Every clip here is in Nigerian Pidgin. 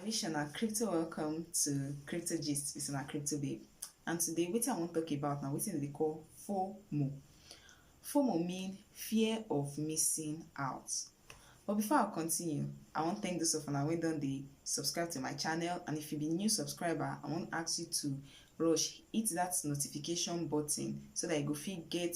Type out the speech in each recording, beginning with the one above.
I wish una crypto welcome to Crypto Gist with una crypto babe. And today wetin I wan talk about na wetin dem dey call FOMO. FOMO mean fear of missing out. But before I continue, I wan thank those of una wey don dey subscribe to my channel and if you be new subscriber, I wan ask you to rush hit that notification button so that you go fit get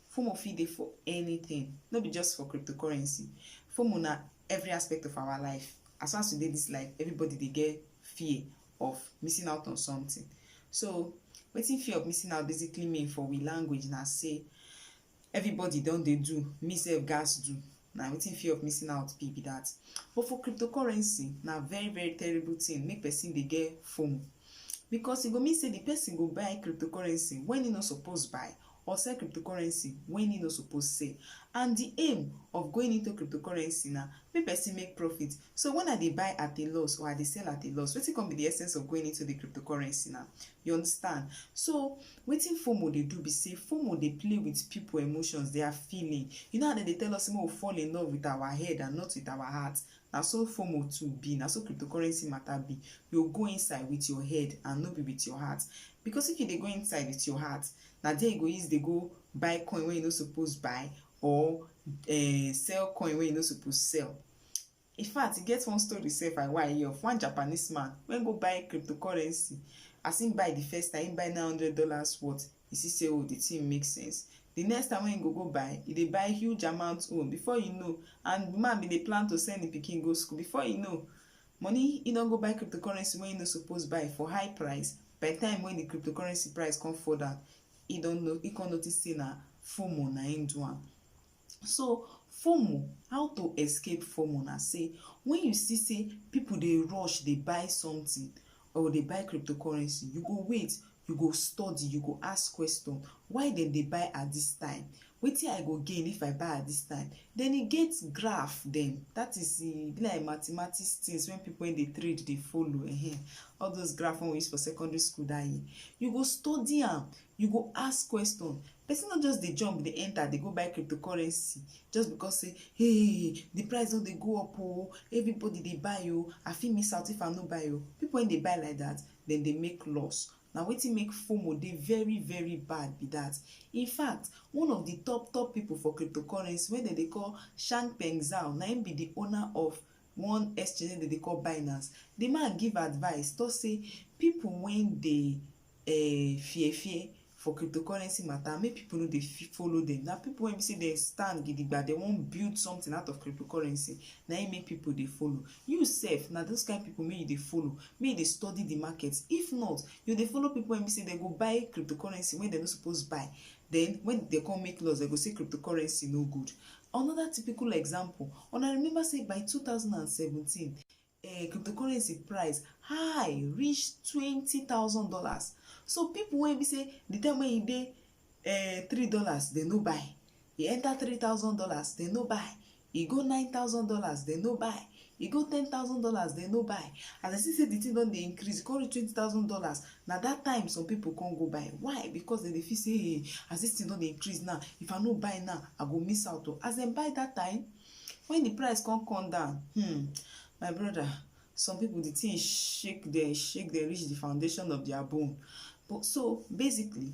FOMO fit dey for anything, no be just for cryptocurrency. FOMO na every aspect of our life. As far as we dey this life, everybody dey get fear of missing out on something. So wetin fear of missing out basically mean for we language na say everybody don dey do, me sef gatz do. na wetin fear of missing out be be that but for cryptocurrency na very very terrible thing make person dey get fomo because e go mean say the person go buy cryptocurrency when he no suppose buy or sell cryptocurrency when he no suppose sell and the aim of going into cryptocurrency na make person make profit so when i dey buy at a loss or i dey sell at a loss wetin come be the essence of going into the cryptocurrency na you understand so Wetin fomo dey do be say fomo dey play with people emotions, their feeling. You know how dem dey tell us say make we fall in love with our head and not with our heart? Na so fomo too be, na so cryptocurrency matter be. You go go inside with your head and no be with your heart. Because if you dey go inside with your heart, na there you go use dey go buy coin wey you no suppose buy or um sell coin wey you no suppose sell. In fact, e get one story sef I wan hear of one Japanese man when go buy cryptocurrency. As him buy the first time, him buy nine hundred dollars worth. He see say oh, the thing make sense. The next time when he go go buy, he dey buy huge amount own. Before you know, and the man bin dey plan to send him pikin go school. Before you know, money he don go buy cryptocurrency wey he no suppose buy for high price. By the time when the cryptocurrency price come fall down, he don know he come notice say na FOMO na him do am. So FOMO, how to escape FOMO na sey when you see sey people dey rush dey buy something or dey buy cryptocurrency, you go wait, you go study, you go ask question, why dem dey buy at this time? Wetin I go gain if I buy at this time? Then e get graph dem, that is e be like mathematics things when people wey dey trade dey follow ehen, all those graph wey we use for secondary school that year. You go study am, you go ask question, person no just dey jump dey enter dey go buy cryptocurrency just because say hey the price don dey go up o everybody dey buy o i fit miss out if i no buy o people wey dey buy like that dem dey make loss na wetin make fomo dey very very bad be that in fact one of the top top people for cryptocurrency wey dem dey call shang peng zhao na him be the owner of one exchange wey dem dey call Binance, di man give advice talk say pipu wey dey um fear fear for cryptocurrency matter make pipu no dey follow dem, na pipu wey be say dem stand gidigba dem wan build something out of cryptocurrency na im make pipu dey follow. You sef na those kain pipu make you dey follow, make you dey study di market if not you go dey follow pipu wey be say dem go buy cryptocurrency wey dem no suppose buy den when dem come make loss dem go say cryptocurrency no good. Another typical example, una remember say by 2017, um cryptocurrency price high reach twenty thousand dollars so people wey be say the time wey e dey um three dollars dem no buy e enter three thousand dollars dem no buy e go nine thousand dollars dem no buy e go ten thousand dollars dem no buy as dem see say the thing don dey increase e come reach twenty thousand dollars na that time some people come go buy why because dem dey feel say hey as this thing don dey increase now if i no buy now i go miss out o as dem buy that time when the price come come down hmm my brother some people the thing shake dem shake dem reach the foundation of their bone but so basically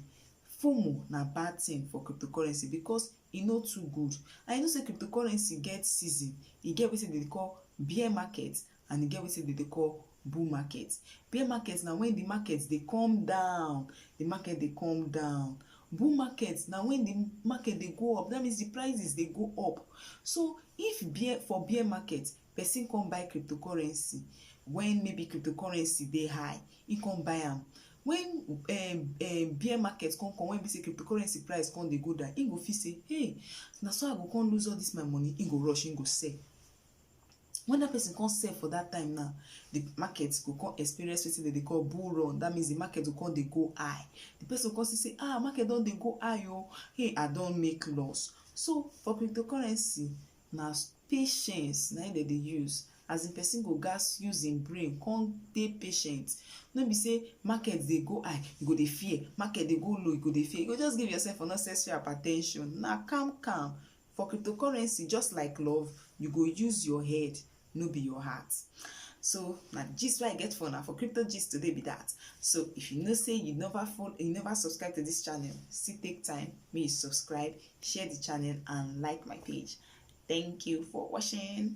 FOMO na bad thing for cryptocurrency because e no too good and you know say cryptocurrency get season, e get wetin dem dey call bear market and e get wetin dem dey call bull market. Bear market na when the market dey come down, the market dey come down. Bull market na when the market dey go up, that means the prices dey go up. So if bear for bear market, person come buy cryptocurrency when maybe cryptocurrency dey high he come buy am when um, um, bear market come come when be say cryptocurrency price come dey go down he go feel say hey na so i go come lose all this my money he go rush he go sell when that person come sell for that time now the market go come experience wetin dem dey call bull run that means the market go come dey go high the person go come see say ah market don dey go high o oh. hey i don make loss so for cryptocurrency Na patience na im dem dey use as in person go gats use im brain come dey patient no be say market dey go high you go dey fear market dey go low you go dey fear you go just give yourself unnecessary hypertension na calm calm for cryptocurrency just like love you go use your head no be your heart so na the gist wey i get for una for crypto gist today be that so if you know say you never follow you never subscribe to this channel still take time make you subscribe share the channel and like my page thank you for watching